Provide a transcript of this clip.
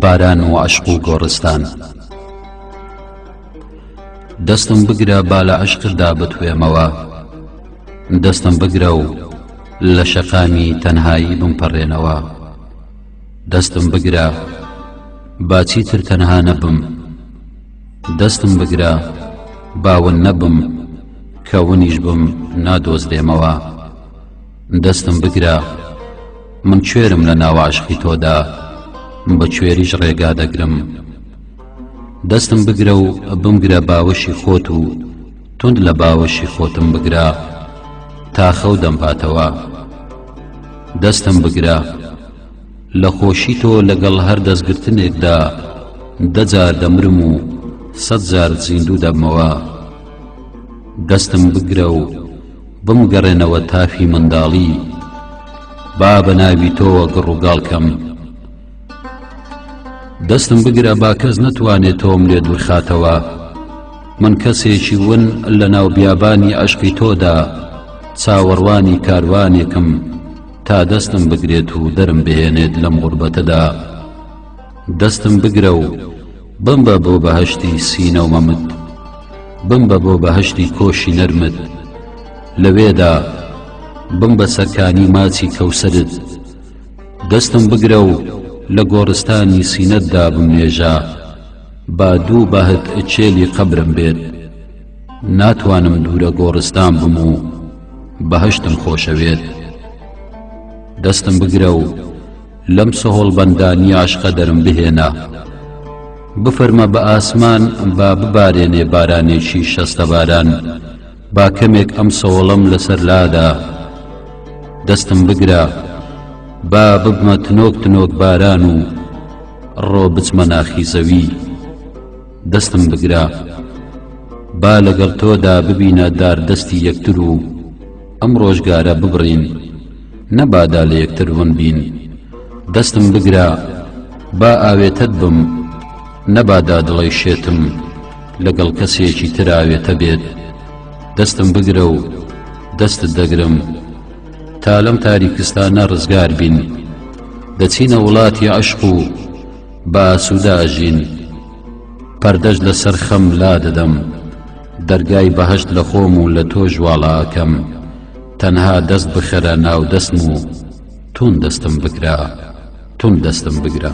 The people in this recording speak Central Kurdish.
باران و عەشق و گۆڕستان دەستم بگرە با لە عەشقتدا بتوێمەوە دەستم بگرە و لە شەقامی تەنهایی بمپەڕێنەوە دەستم بگرە با چیتر تەنها نەبم دەستم بگرە باون نەبم کە ونیش بم نادۆزرێمەوە دەستم بگرە من کوێرم لە ناواشقی تۆدا بە کوێریش ڕێگا دەگرم دەستم بگرە و بمگرە باوەشی خۆت و توند لە باوەشی خۆتم بگرە تا خەو دەمباتەوە دەستم بگرە لە خۆشی تۆ لەگەڵ هەر دەستگرتنێکدا دە جار دەمرم و سەد جار زیندوو دەبمەوە دەستم بگرە و بمگەڕێنەوە تافی منداڵی با بە ناوی تۆوە گڕوگاڵ کەم دەستم بگرە با کەس نەتوانێت تۆم لێ دوورخاتەوە من کەسێکی ون لە ناو بیابانی عەشقی تۆدا چاوەڕوانی کاروانێکم تا دەستم بگرێت و دەرم بهێنێت لەم غوربەتەدا دەستم بگرە و بمبە بۆ بەهشتی سینەومەمت بمبە بۆ بەهشتی کۆشی نەرمت لەوێدا بم بە سەرکانی ماچی کەوسرت دەستم بگرە و لە گۆڕستانی سینەت دا بمنێژە با دوو بەهت چێلی قەبرم بێت ناتوانم دوورە گۆڕستان بم و بەهەشتم خۆشەوێت دەستم بگرە و لەم سەهۆڵ بەندانی عشقە دەرم بهێنە بفەرمە بە ئاسمان با ببارێنێ بارانێکی شەستە باران با کەمێک ئەم سەوڵەم لەسەر لادا دەستم بگرە با ببمە تنۆک تنۆک باران و ڕۆ بچمە ناخی زەوی دەستم بگرە با لەگەڵ تۆدا ببینە داردەستی یەکتر و ئەم ڕۆژگارە ببڕین نەبادا لە یەکتر ون بین دەستم بگرە با ئاوێتەت بم نەبادا دڵەی شێتم لەگەڵ کەسێکی تراوێتە بێت دەستم بگرە و دەستت دەگرم تا لەم تاریکستانە ڕزگار بین دەچینە وڵاتی عشق و باسووداژین پەردەش لەسەر خەم لا دەدەم دەرگای بەهشت لە خۆم و لە تۆ ژواڵاکەم. تەنها دەست بخەرە ناو دەستم و تون دەستم بگرە تون دەستم بگرە.